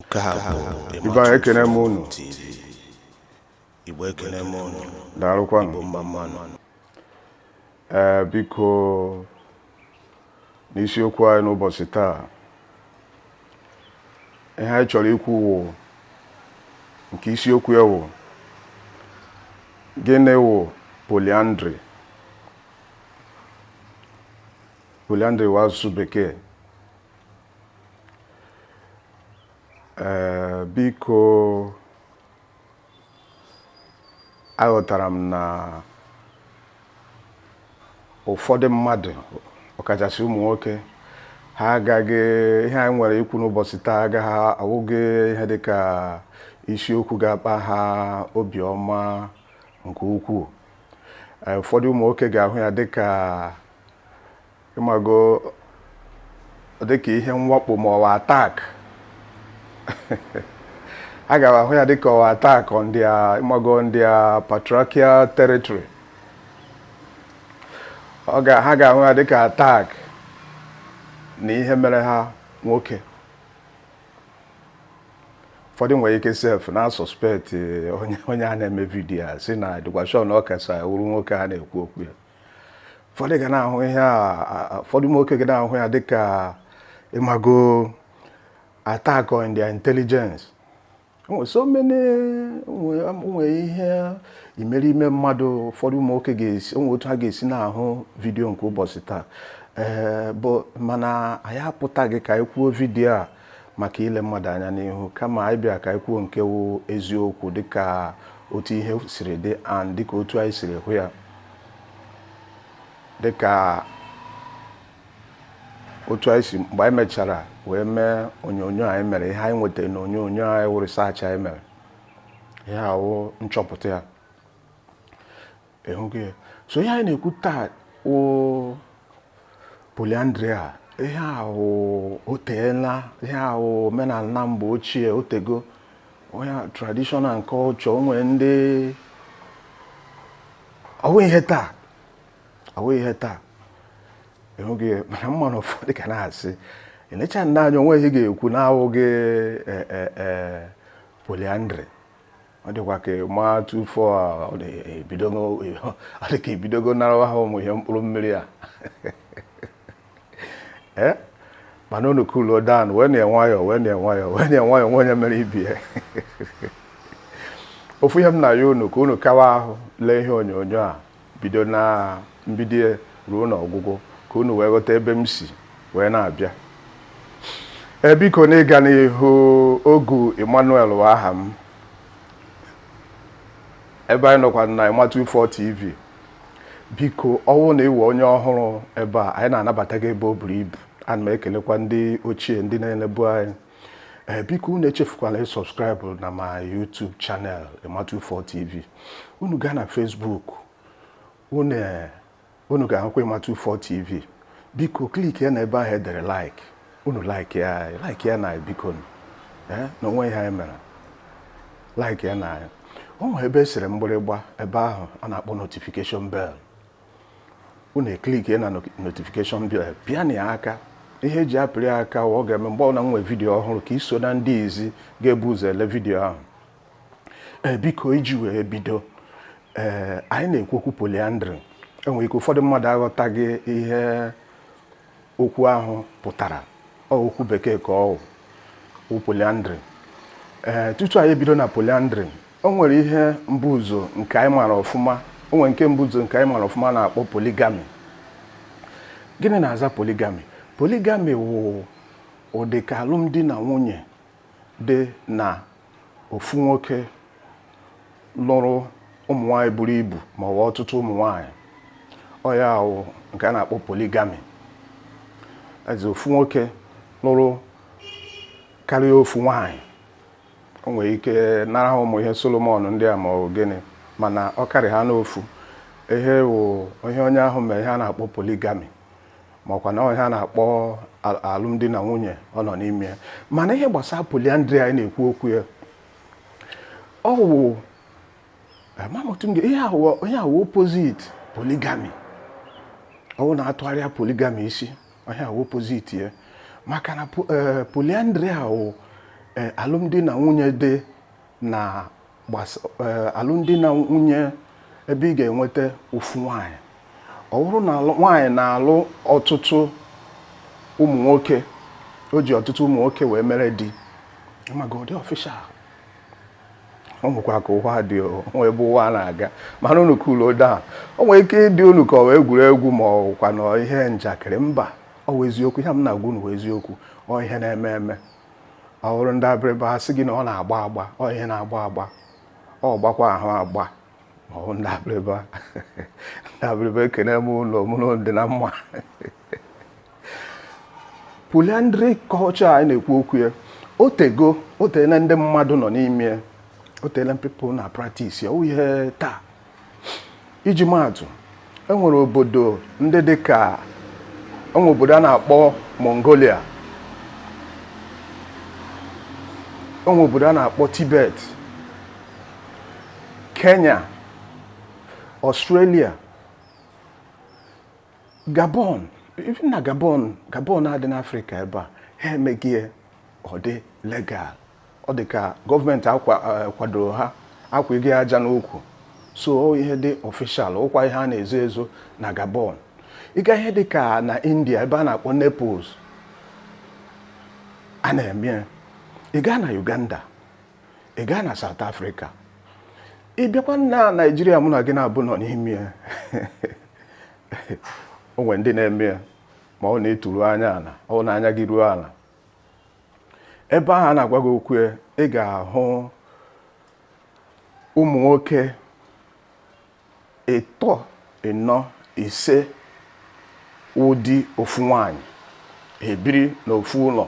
Nke a bụ Ibe anyị ekene m unu. TV. Igbo ekene m unu. daalụkwanụ Igbo mma mma nụ. ee biko n'isiokwu anyị n'ụbọchị taa ihe anyị chọrọ ikwu wụ nke isiokwu ya wụ gịnị wụ polyandry polyandry wụ asụsụ bekee Ee, biko aghọtara m na ụfọdụ mmadụ ọkachasị ụmụ nwoke ha agaghị ihe anyị nwere ikwu n'ụbọchị taa agaghị awụghị ihe dị ka isiokwu ga-akpa ha obiọma nke ukwuu Ee, ụfọdụ ụmụ nwoke ga-ahụ ya dị ka ịmago dịka ihe mwakpo ma ọ wụ attack ha ga-ahụ ya dịka ọ wụ attack on their ịmago on their patriarchal territory ọ ga ha ga-ahụ ya dịka attack na ihe mere ha nwoke ụfọdụ nwere ike sef na suspect onye onye a na-eme vidiyo a sị na dịkwa sure na ọ kasa wụrụ nwoke a na-ekwu okwu ya ụfọdụ ga na-ahụ ihe a ụfọdụ ụmụ nwoke ga na-ahụ ya dịka ịmago attack on their intelligence nwere so many nwere ihe imerime mmadụ ụfọdụ ụmụ nwoke ga-esi o nwe otu ha ga-esi na-ahụ vidiyo nke ụbọchị taa ee but mana anyị apụtaghị ka anyị kwuo vidiyo a maka ile mmadụ anya n'ihu kama anyị bịara ka anyị kwuo nke wụ eziokwu dịka otu ihe siri dị and dịka otu anyị siri hụ ya dịka otu anyị si mgbe anyị mechara wee mee onyonyo anyị mere ihe anyị nwetara na onyonyo anyị wụ research anyị mere ihe a wụ nchọpụta ya ịhụgo ya so ihe anyị na-ekwu taa wụ polyandry a ihe ahụ o teela ihe a wụ omenala mgbe ochie o tego ihe tradition and culture o nwere ndị ọ wụ ihe taa ọ wụ ihe taa ịhụgo ya mana m ma na ụfọdụ ka na-asị elecha nna a anya o nwe ihe ga-ekwu na-awụghị polyandry ọ dịkwa ka ma tụfọ adịka ibidogo narawa ha ụmụ ihe mkpụrụ mmiri a ee eh? mana unu cooluo down wee na nwayọọ wee na nwayọọ wee na nwayọọ nwe onye mere ibe ya ofu ihe m na-ayọ unu ka unu kawa ahụ lee ihe onyonyo a bido na mbido ya ruo n'ọgwụgwụ ka unu wee ghọta ebe m si wee na-abịa ee biko na ịga n'ihu Ogu Emmanuel wụ aha m ebe anyị nọkwa na Ịmatụ4 TV biko ọwụ na ịwụ onye ọhụrụ ebe a anyị na-anabata gị ebe o buru ibu ana m ekelekwa ndị ochie ndị na-elebu anyị ee biko unu echefukwala ịsubscribe na my YouTube channel Ịmatụ4 TV unu gaa na Facebook unu eh, unu ga-ahụkwa Ịmatụ4 TV biko kliki ya na ebe ahụ edere like unu like ya anyị like ya na anyị biko nụ. Eh, na o nwe ihe anyị mere like ya na anyị o nwere ebe esere mgbịrịgba ebe ahụ a na-akpọ notification bell unu eklikie na notification bell pịa na ya aka ihe eji apịrị ya aka ọ ga-eme mgbe ọbụla m nwee vidiyo ọhụrụ ka i so na ndị izi ga-ebu ụzọ ele vidiyo ahụ ee biko iji wee bido ee anyị na-ekwu okwu polyandry enwere ike ụfọdụ mmadụ aghọtaghị ihe okwu ahụ pụtara ọ okwu bekee ka ọ wụ polyandry ee tutu anyị ebido na polyandry o nwere ihe mbuzọ nke anyị mara ọfụma o nwere nke mbuzọ nke anyị mara ọfụma na-akpọ polygamy gịnị na-aza polygamy polygamy wụ ụdị ka alụmdi na nwunye dị na ofu nwoke lụrụ ụmụ nwaanyị buru ibu ma ọ wụ ọtụtụ ụmụ nwaanyị ọ ya wụ nke a na-akpọ polygamy ebe ofu nwoke lụrụ karịa ofu nwaanyị o nwere ike nara ha ụmụ ihe Solomon ndị a ma ọ bụ gịnị mana ọ karị ha n'ofu ihe wụ ihe onye ahụ mere ihe a na-akpọ polygamy makwa na ihe a na-akpọ alụmdi na nwunye ọ nọ n'ime ya mana ihe gbasara polyandry anyị na-ekwu okwu ya ọ wụ ihe wụ opposite polygamy ọwụ na a tụgharịa polygamy isi ọ ihe wụ opposite ya maka na eh, polyandry a wụ eh, alụmdi na nwunye dị na eh, alụmdi na nwunye ebe ị ga-enweta ofu nwaanyị ọ bụrụ na nwaanyị na-alụ ọtụtụ ụmụ nwoke o ji ọtụtụ ụmụ nwoke wee mere di amago ọ dị official o nwekwa ka ụwa dị o nwe ebe ụwa na-aga mana unu cool down o nwere ike ịdị unu ka ọ wụ egwuregwu ma ọ wụkwa na ihe njakịrị mba ọ wụ eziokwu ihe m na-agwa unu wụ eziokwu ọ ihe na-eme eme ọ wụrụ ndị Abịrịba ha sị gị na ọ na-agba agba ọ ihe na-agba agba ọ gbakwa ahụ agba ndị abịrịba ndị abịrịba ekene m unu ma unu dị na mma polyandry culture anyị na-ekwu okwu ya o tego o tele ndị mmadụ nọ n'ime ya o tele people na practice ya ọwụghị ihe taa iji maatụ e nwere obodo ndị dị ka e nwere obodo a na-akpọ Mongolia e nwere obodo a na-akpọ Tibet Kenya Australia Gabon even na Gabon Gabon a dị n'Afrịka ebe a ha emego ya ọ dị legal ọ dị ka gọọmenti kwadoro eh, ha akwago ya aja n'ukwu so ọwụ ihe dị ọfishal ọkwa ihe a na-ezo ezo na Gabon ị gaa ihe dị ka na India ebe a na-akpọ Nepal a na-eme ya ị gaa na Uganda ị gaa na South Africa ị bịakwa na Naịjirịa mụ na gị n'abụọ nọ n'ime ya o nwere ndị na-eme ya ma ọ na-eturu anya ala ọ na anya gị ruo ala ebe ahụ a na-agwa gị okwu ya ị ga-ahụ ụmụ nwoke ịtọ ịnọ ise wụ di ofu nwanyị ebiri n'ofu ụlọ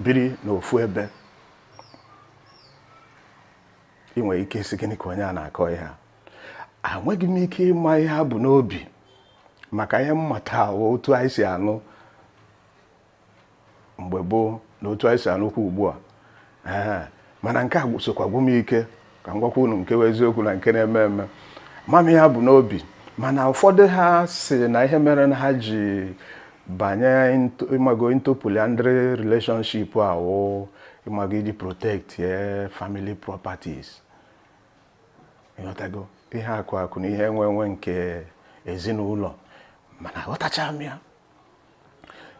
biri n'ofu ebe ị nwere ike ịsị gịnị ka onye a na-akọ ihe a enweghị m ike ịma ihe ha bu n'obi maka ihe m mata wụ otu anyị si anụ mgbe gboo na otu anyị si anụkwu ugbu a ee mana nke a sokwa gwụ m ike ka m gwakwa unu nke bụ eziokwu na nke na-eme eme ama m ihe ha bu n'obi mana ụfọdụ ha sị na ihe mere na ha ji banye ịmago into polyandry relationship a wụ ịmago iji protect eh, family properties ịghọtago ihe akụ akụ na ihe enwe enwe nke ezinụlọ mana aghọtacha m ya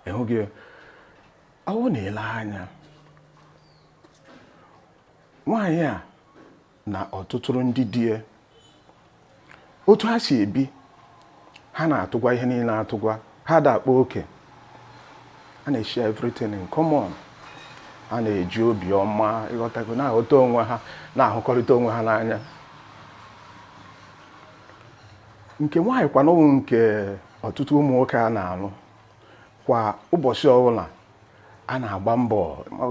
ị hụghị ọwụ na i lee anya nwaanyị a na ọtụtụrụ ndị di ya otu ha si ebi ha na-atụgwa ihe niile atụgwa ha ada akpa oke ha na-share everything in common ha na-eji obi ọma ịghọtago na-aghọta onwe ha na-ahụkọrịta onwe ha n'anya nke nwaanyị kwanụ wụ nke ọtụtụ ụmụ nwoke a na-alụ kwa ụbọchị ọbụla a na-agba mbọ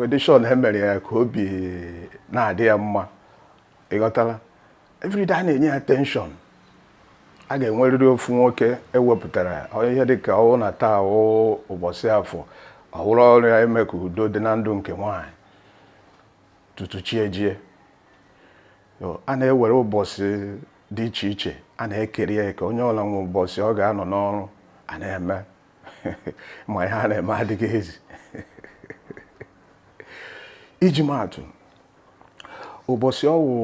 adị sure na e mere ya ka obi na-adị ya mma ịghọtala everyday a na-enye ya attention a ga-enwerịrị ofu nwoke ewepụtara ihe dịka ọwụ na taa wụ ụbọchị afọ ọwụrụ ọrụ ya ime ka udo dị na ndụ nke nwaanyị tutu chi ejie a na-ewere ụbọchị dị iche iche a na-ekere ya eke onye ọla nwe ụbọchị ọ ga-anọ n'ọrụ a na-eme ma ihe a na-eme adịghị easy iji maa atụ ụbọchị ọ wụ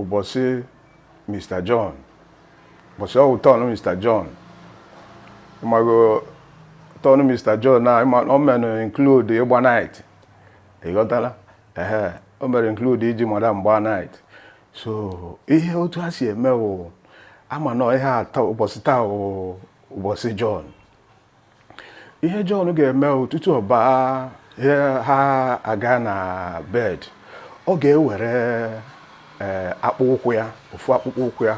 ụbọchị Mr. John ụbọchị ọ wụ turn Mr. John ị mago turn Mr. John na ọ menụ include ịgba night ịghọtala ehe o mere include iji madam gbaa night so ihe otu ha si eme wụ a maanụ ihe atụ ụbọchị taa wụ ụbọchị John ihe John ga-eme wụ tutu ọ baa ha aga na bed ọ ga-ewere ee akpụkpọ ụkwụ ya ofu akpụkpọ ụkwụ ya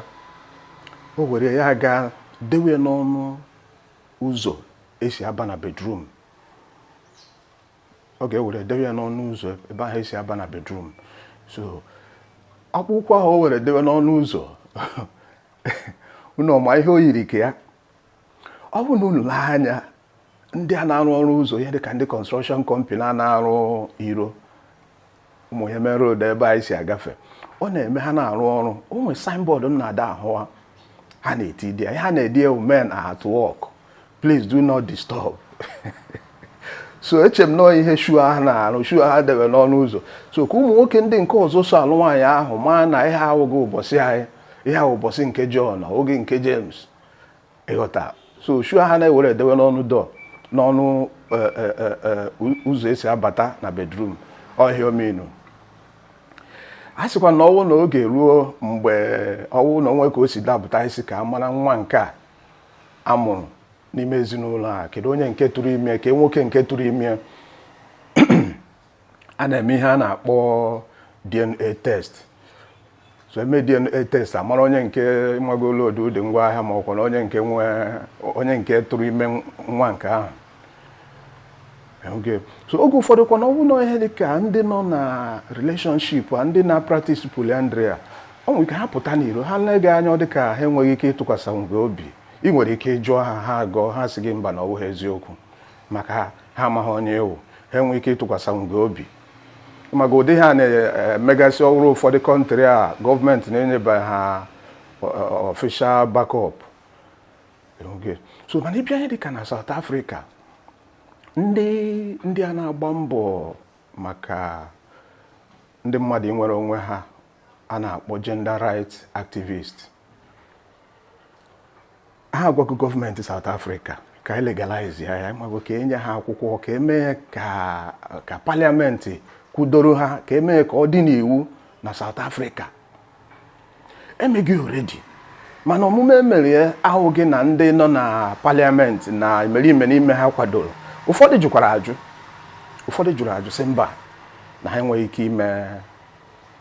o were ya gaa dewe n'ọnụ ụzọ e si aba na bedroom ọ ga-ewere dewe ya n'ọnụ ụzọ ebe ahụ e si aba na bedroom so akpụkpọ ahụ o were dewe n'ọnụ ụzọ unu ọ ma ihe o yiri ka ya ọ bụrụ na unu lee anya ndị a na-arụ ọrụ ụzọ ihe dịka ndị construction company a na-arụ iro ụmụ ihe main road ebe anyị si agafe ọ na-eme ha na-arụ ọrụ o nwere signboard m na-ada ahụ ha ha na-eti di ya ihe ha na-ede wụ men are at work please do not disturb so eche m na ọ wụ ihe shoe ahụ na-arụ shoe ha debe n'ọnụ ụzọ so ka ụmụ nwoke ndị nke ọzọ so alụ nwaanyị ahụ maa na ihe a awụghị ụbọchị anyị ihe a wụ ụbọchị nke John oge nke James ịghọta so shoe ha na-ewere edewe n'ọnụ door n'ọnụ e, e, e, ụzọ e si abata na bedroom ọ ihe ọ mean a sịkwa na ọ wụ na oge ruo mgbe ọ wụ na o nwe ka o si dapụta ha sị ka a mara nwa nke a a mụrụ n'ime ezinụlọ a kedu onye nke tụrụ ime kee nwoke nke tụrụ ime a na-eme ihe a na-akpọ DNA test so e mee DNA test a mara onye nke magolo odu ụdị ngwa ahịa ma ọkwa na onye nke nwe onye nke tụrụ ime nwa nke ahụ okay so oge ụfọdụ kwa na ọ bụ na ihe dị ka ndị nọ na relationship a ndị na-practice polyandry a o nwere ike ha pụta n'iro ha lee gị anya ọ dị ka ha enweghị ike ịtụkwasịnwu gị obi i nwere ike ịjụ ha ha agọọ ha sị gị mba na ọ bụghị eziokwu maka ha ha amaghị onye ị wụ ha enweghị ike ịtụkwasịnwu gị obi maka ụdị ihe ha na-emegasị ọ wụrụ ụfọdụ country a government enyebeghị ha official backup so mana ị bịa ihe dịka na South Africa ndị ndị a na-agba mbọ maka ndị mmadụ inwere onwe ha a na-akpọ gender rights activists ha agwago gọọmenti South Africa ka e legalize ya ị mago ka enye ha akwụkwọ ka emee ka ka paliamenti kwudoro ha ka emee ka ọ dị n'iwu na South Africa emeghị already mana omume emere ya awụghị na ndị nọ na paliamenti na imerime n'ime ha kwadoro ụfọdụ jụkwara ajụ ụfọdụ jụrụ ajụ sị mba na ha enweghị ike ime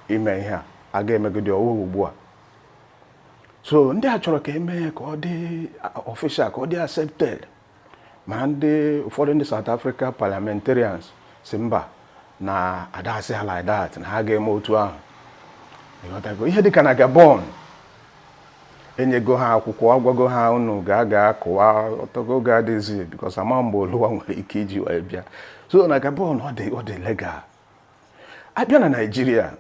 ime ihe a a ga-emegide ọwụwa ugbu a so ndị a chọrọ ka eme ya ka ọ dị official ka ọ dị accepted ma ndị ụfọdụ ndị South Africa parliamentarians sị mba na adasị ha like that na ha ga-eme otu ahụ ịghọtago ihe dịka na Gabon enyego ha akwụkwọ agwago ha unu ga ga kụwa ọtọgo oge adịzi because ama mgbe oluwa nwere ike iji wee bịa so na Gabon ọ dị legal abịa na naijiria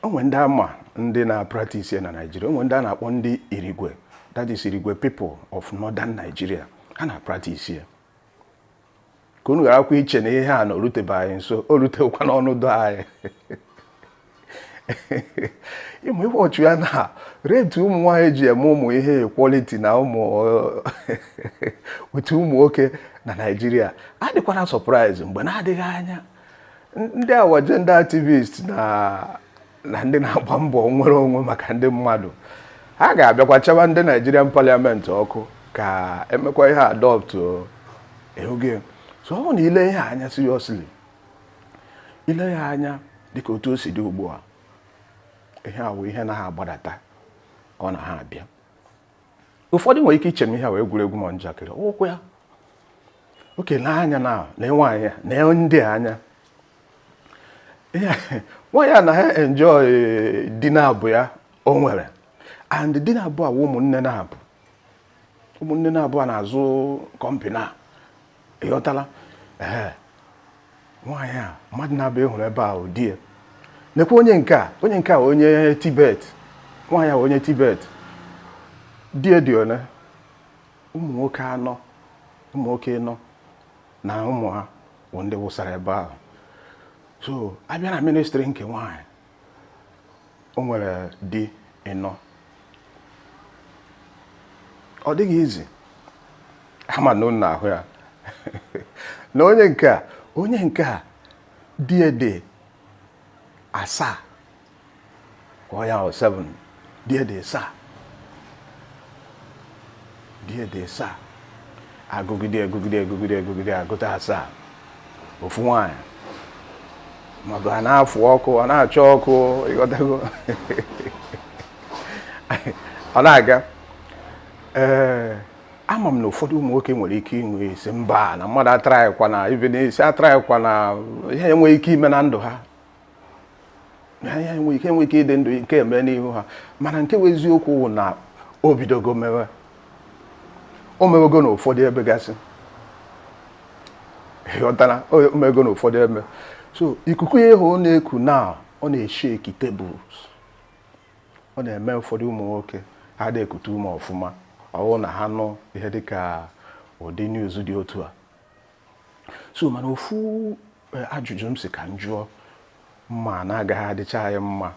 o nwe ndị ama ndị na-apractice na naijiria o nwe ndị a na-akpọ ndị irigwe that is irigwe people of northern nigeria ha na-apractice ya ka unu gharakwa iche na ihe a na o rutebe anyị nso o rutekwa n'ọnụ door anyị ịma ihe ọchị ya na rate ụmụ nwaanyị ji eme ụmụ ihe equality na ụmụ otu ụmụ nwoke na naijiria adịkwana surprise mgbe na-adịghị anya ndị awa gender activist na na ndị na-agba mbọ nnwere onwe maka ndị mmadụ ha ga-abịakwa chaba ndị Nigerian Parliament ọkụ ka emekwa ihe adopt ehuge so ọ bụ na ile ihe anya seriously ile ya anya dịka otu o si dị ugbu a ihe a wụ ihe na ha agbadata ọ na ha abịa ụfọdụ nwere ike iche ma ihe a wụ egwuregwu ma njakịrị ụkwụ ya oke n'anya na na nwaanyị nedị anya nwaanyị a na ha enjoy eh, di naabọ ya o nwere and di naabọ a wụ ụmụnne naabọ ụmụnne naabọ a na-azụ kọmpina ị ghọtala ee nwaanyị a mmadụ naabọ ị hụrụ ebe a wụ di ya nekwa onye nke a onye nke a onye Tibet nwaanyị a onye Tibet di ya dị one ụmụ nwoke anọ ụmụ nwoke anọ na ụmụ ha bụ ndị wụsara ebe ahụ so abịa na ministri nke nwaanyị o nwere di ịnọ ọ dịghị easy ama na ụnụ na-ahụ ya na onye nke a onye nke a di ya dị asaa ka ọ ya wụ 7 Di ya dị asaa. Di ya dị asaa. Agụgide agụgide agụgide agụgide agụta asaa. Ofu nwaanyị. Maọbụ a na-afụ ọkụ, ọ na-achọ ọkụ, ịghọtago. Ọ na-aga. Ee, ama m na ụfọdụ ụmụ nwoke nwere ike inwe isi mba na mmadụ atraịkwana ibe na isi atraịkwana ihe enweghị ike ime na ndụ ha ha ya enwe ike enwe ike ịdị ndụ nke eme n'ihu ha mana nke bụ eziokwu wụ na o bidogo mewe o mewego na ụfọdụ ebe gasị ịghọtara o mewego na ụfọdụ ebe so ikuku ya ịhụ ọ na-eku na ọ na-esheki tables ọ na-eme ụfọdụ ụmụ nwoke ha adị ekute ume ọfụma ọwụ na ha nụ ihe dịka ụdị news dị otu a so mana ofu eh, ajụjụ m sị ka m jụọ m ma na ọ gaghị adịcha anyị mma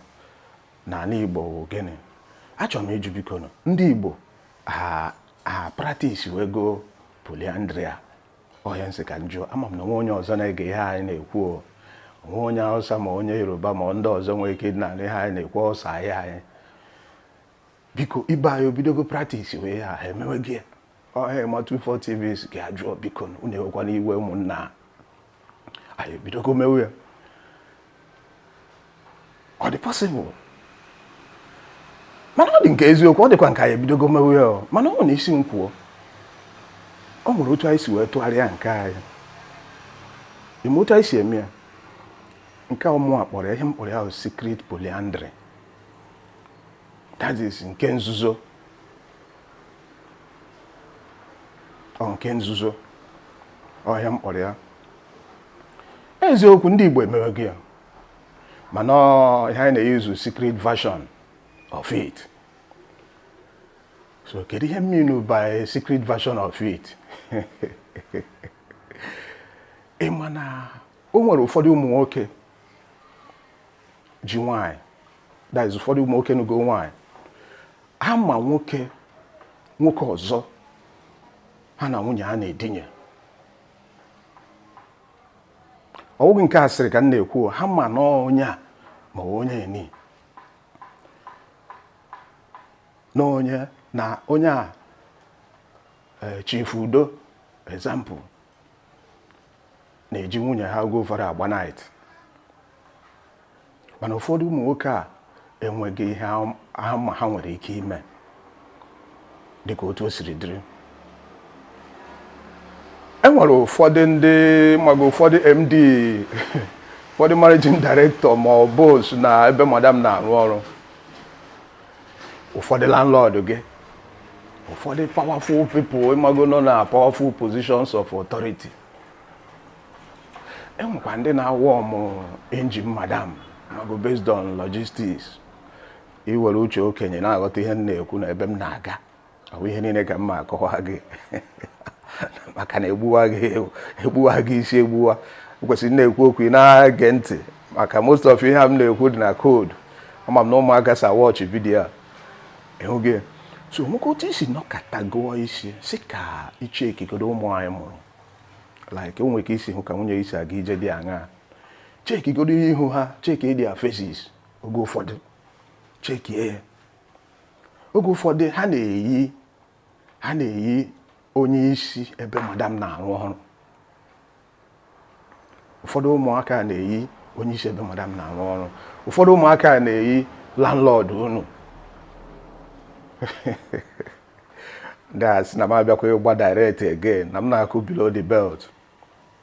n'ala Igbo bụ gịnị achọrọ m ịjụ biko nụ, ndị Igbo ha ha practice wego polyandry a ọ ihe a m sị ka m jụọ ama m na o nwe onye ọzọ na-ege ihe anyị na-ekwu o nwe onye Hausa ma onye Yoruba ma ndị ọzọ nwere ike ịdị na-anụ ihe anyị na-ekwu ọsọ ahịa anyị biko ibe anyị obidogo practice we ya ha emewego ya ọha ma 24 TV sị ka a jụọ biko na unu ewekwana iwe ụmụnna ha. anyị ebidogo mewe ya ọ dị possible mana ọ dị ka eziokwu ọ dịkwa ka anyị ebidogo mewe ya o. mana ọ nwere isi m kwuo ọ nwere otu anyị si wee tụgharịa nke anyị ime otu anyị si eme ya nke mụwa kpọrọ ya ihe m kpọrọ ya bụ secret polyandry that is nke nzuzo ọ nke nzuzo ọ ihe m kpọrọ ya eziokwu ndị Igbo emewego ya mana ọ ihe anyị na-eyuzu secret version of it so kedu ihe m mean by secret version of it ị ma na o nwere ụfọdụ ụmụ nwoke ji nwaanyị that is ụfọdụ ụmụ nwoke nụgo nwaanyị ha ma nwoke nwoke ọzọ ha na nwunye ha na-edinye ọ bụghị nke asịrị ka m na-ekwu ha ma na onye a ma onye nị na onye na onye a eh, Chief Udo example na-eji nwunye ha oge ụfọdụ agba night mana ụfọdụ ụmụ nwoke a enweghị ihe ha ma ha nwere ike ime dịka otu o siri dịrị e nwere ụfọdụ ndị maga ụfọdụ MD ụfọdụ managing director ma ọ boss na ebe madam na-arụ ọrụ ụfọdụ landlord gị ụfọdụ powerful people ịmago nọ na powerful positions of authority enwekwa ndị na-awarm engine madam ịmago based on logistics i were uche okenye na-aghọta ihe m na-ekwu na ebe m na-aga ọ bụ ihe niile ka m ma-akọwa gị maka na egbuwa gị egbuwa gị isi egbuwa kwesịrị na-ekwu okwu ị na-ege ntị maka most of ihe a m na-ekwu dị na code ama m na ụmụaka so awatch video a ịhụ gị so nwoke otu isi nọkata gụọ isi si ka i chekigodo ụmụ anyị mụrụ like o nwere ka i si hụ ka nwunye gị si aga ije dị aṅaa chekigodo ihu ha cheki their faces oge ụfọdụ cheki ya oge ụfọdụ ha na-eyi ha na-eyi onye isi ebe madam na-arụ ọrụ ụfọdụ ụmụaka na-eyi onye isi ebe madam na-arụ ọrụ ụfọdụ ụmụaka na-eyi landlord unu ndị a sị na m abịakwa ịgba direct again na m na-akụ below the belt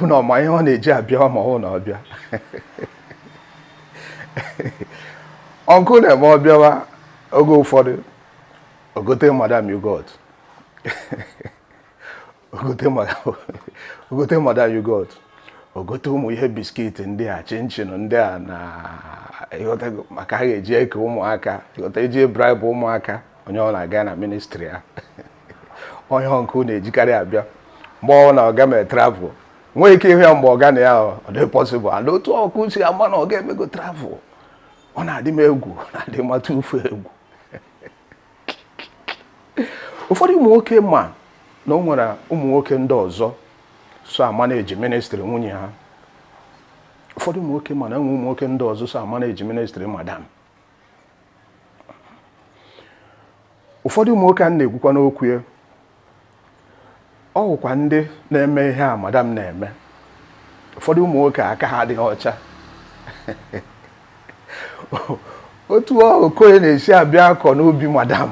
unu ọma ihe ọ na-eji abịa ọma ọ na ọbịa uncle na-eme ọ bịawa oge ụfọdụ o gote madam yogurt o gote madam yogurt o gote ụmụ ihe biscuit ndị a chinchin ndị a na maka ha ga-eji eke ụmụaka ị ghọta e ji bribe ụmụaka onye ọ na-aga na ministry ya oge uncle na-ejikarị abịa mgbe ọ na ọga mere travel nwee ike ịhụ ya mgbe ọga nọ ya ọ dị possible and otu uncle si ama na ọga emego travel ọ na-adị m egwu ọ na-adị mata ufe egwu ụfọdụ ụmụ nwoke ma na o nwere ụmụ nwoke ndị ọzọ so amanage ministry nwunye ha ụfọdụ ụmụ nwoke ma na e nwe ụmụ nwoke ndị ọzọ so amanage ministry madam ụfọdụ ụmụ nwoke a na-ekwukwa n'okwu ya ọ wụkwa ndị na-eme ihe a madam na-eme ụfọdụ ụmụ nwoke aka ha adịghị ọcha otu okoye na-esi abịa akọ n'ubi madam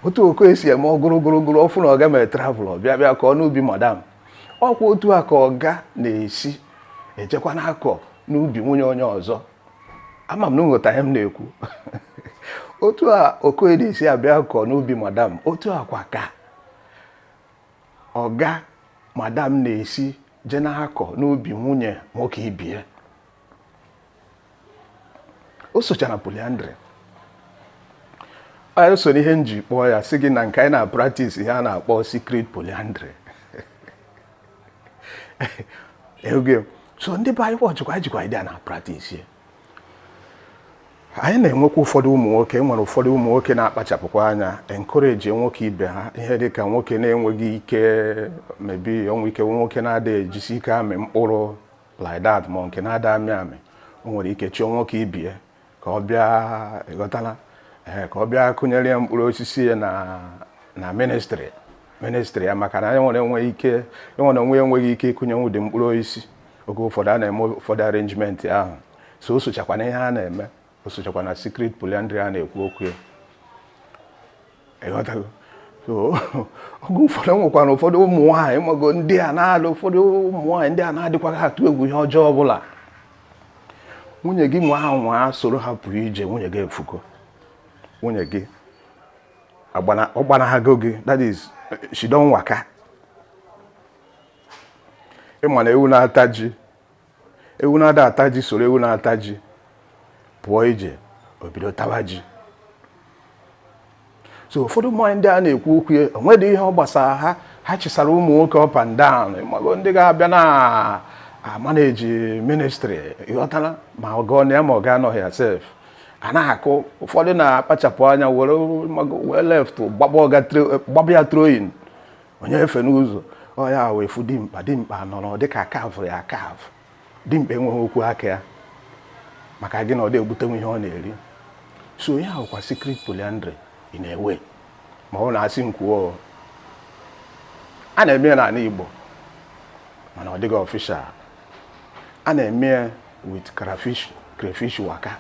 otu okoye si eme ọgụrụgụrụgụrụ ọ fụ na ọga mere travel ọ bịa bịa kọọ n'ubi madam ọ kwa otu a ka ọga na-esi ejekwa na-akọ n'ubi nwunye onye ọzọ ama m na unu ghọta ihe m na-ekwu otu a okoye na-esi abịa akọ n'ubi madam otu a kwa ka ọga madam na-esi je na-akọ n'ubi nwunye nwoke ibe ya o socha na polyandry o so n'ihe m ji kpọọ ya sị gị na nke anyị na-apractice ihe a na-akpọ secret polyandry oge so ndị be anyị wọchịkwa anyị jikwa idea na practice anyị na-enwekwa ụfọdụ ụmụ nwoke e nwere ụfọdụ ụmụ nwoke na-akpachapụkwa anya encourage nwoke ibe ha ihe dị ka nwoke na-enweghị ike maybe o nwee ike nwoke na-adịghị ejisi ike amị mkpụrụ like that ma nke na-ada amị amị o nwere ike chọọ nwoke ibe ya ka ọ bịa ịghọtala ee ka ọ bịa kụnyere ya mkpụrụ osisi ya na ministry ya maka na ya nwa onwe ya enweghị ike ịkụnye ụdị mkpụrụ osisi oge ụfọdụ a na-eme ụfọdụ arrangement ahụ so o sochakwa n'ihe a na-eme o sochakwa na secret polyandry a na-ekwu okwu ya ịghọtago so oge ụfọdụ nwekwara ụfọdụ ụmụ nwaanyị mago ndị a na-adị ụfọdụ ụmụ nwaanyị ndị a na-adịkwaghị atụ egwu ihe ọjọọ ọbụla nwunye gị nwa ahụ nwa soro ha pụrụ ije nwunye gị efugo nwunye gị ọ gbanahago gị that is she don waka ị ma na ewu na-ata ji ewu na-ada ata ji soro ewu na-ata ji pụọ ije o bido tawa ji so ụfọdụ ụmụ nwaanyị ndị a na-ekwu okwu ya o nwedị ihe ọ gbasara ha ha chịsara ụmụ nwoke up and down mago ndị ga-abịa na-amanage ministry ịghọtara ma ọga nọ ya ma ọga anọghị ya sef a na-akụ ụfọdụ na-akpachapụ anya were left gbaba ya throw-in onye efe n'ụzọ ọ ya wụ ị fụ dimkpa dimkpa nọrọ dịka a kavụ ya akavụ dimkpa enweghị okwu aka ya maka gịnị ọ dị egbutenwu ihe ọ na-eri so ya wụkwa secret polyandry in a way ma unu asị m kwuo a na-eme ya n'ala Igbo mana ọ dịghị official a na-eme ya with crayfish waka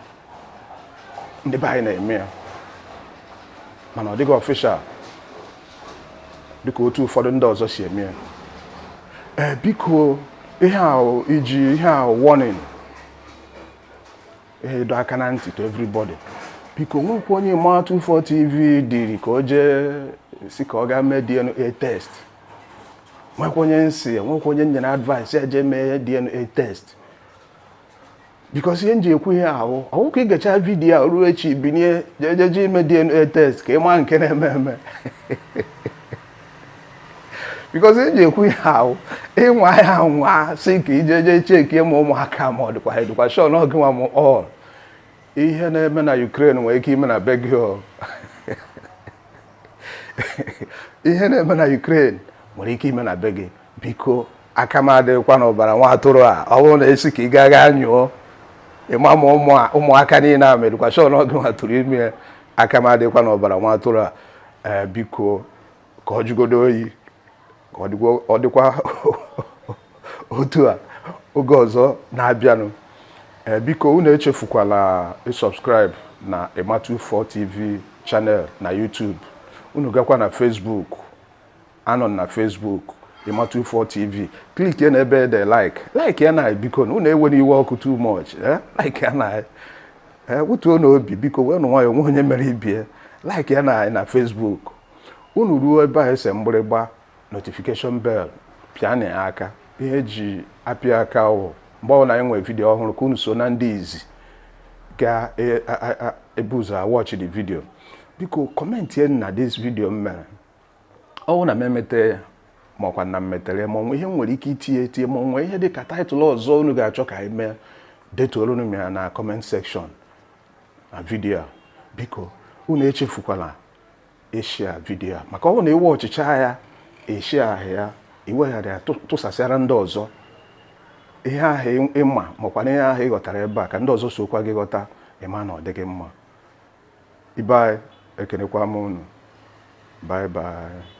ndị be anyị na-eme ya mana ọ dịghị official dịka otu ụfọdụ ndị ọzọ si eme ya ee biko ihe ahụ iji ihe ahụ warning ihe ịdọ aka na ntị to everybody biko nwekwa onye ma 247 TV diri ka o jee si ka ọ gaa mee DNA test nwekwa onye m sị nwekwa onye nyere advice ya jee mee DNA test because ihe m ji ekwu ihe ahụ ọ wụ ka ị gecha video a ruo echi binie jeje ime DNA test ka ị maa nke na-eme eme because ihe m ji ekwu ihe ahụ ị nwaa ya anwa sị ka i jeje checkie ma ụmụaka ma ọ dịkwa adịkwa sure na ọ gị nwa mụ all ihe na-eme na Ukraine nwere ike ime na be ihe na-eme na Ukraine nwere ike ime na be gị biko aka m adịghịkwa n'ọbara nwa atụrụ a ọ bụrụ na esi ka ị gaa gaa nyụọ ịma ma ụmụaka niile a mere education ọ gịwa tụrụ ime ya aka m adịghịkwa n'ọbara nwa atụrụ a ee biko ka ọ jụgodo oyi ka ọ dịkwa ọ dịkwa otu a oge ọzọ na-abịanụ ee biko unu echefukwala ịsubscribe na Emma24 TV channel na YouTube unu gakwa na Facebook anọ m na Facebook Emma24 TV click ya na ebe ede like like ya na biko unu ewene iwe ọkụ too much eh? like ya na ee wetuonụ obi biko wee nụ nwayọọ onwe onye mere ibie like ya na na Facebook unu ruo ebe a ese mgbịrịgba notification bell pịanụ ya aka ihe eji apịa aka wụ mgbe ọbụla anyị nwere video ọhụrụ ka unu so na ndị izi ga-ebu ụzọ watch the video biko commentie na this video m mere ọwụ na m emete ya ma ọkwa na m metere ya ma onwe ihe m nwere ike itinye etinye ma onwe ihe dị ka title ọzọ unu ga-achọ ka anyị mee detuoro unu ya na comment section na video a biko unu echefukwala ishare video a maka ọ na ị watchịcha ya eshiahụ ya iweghara ya tụsasịara ndị ọzọ ihe ahụ ịma makwa na ihe ahụ ịghọtara ebe a ka ndị ọzọ sokwa gị ghọta ịma na ọ dịghị mma ibe anyị ekenekwa m unu bye bye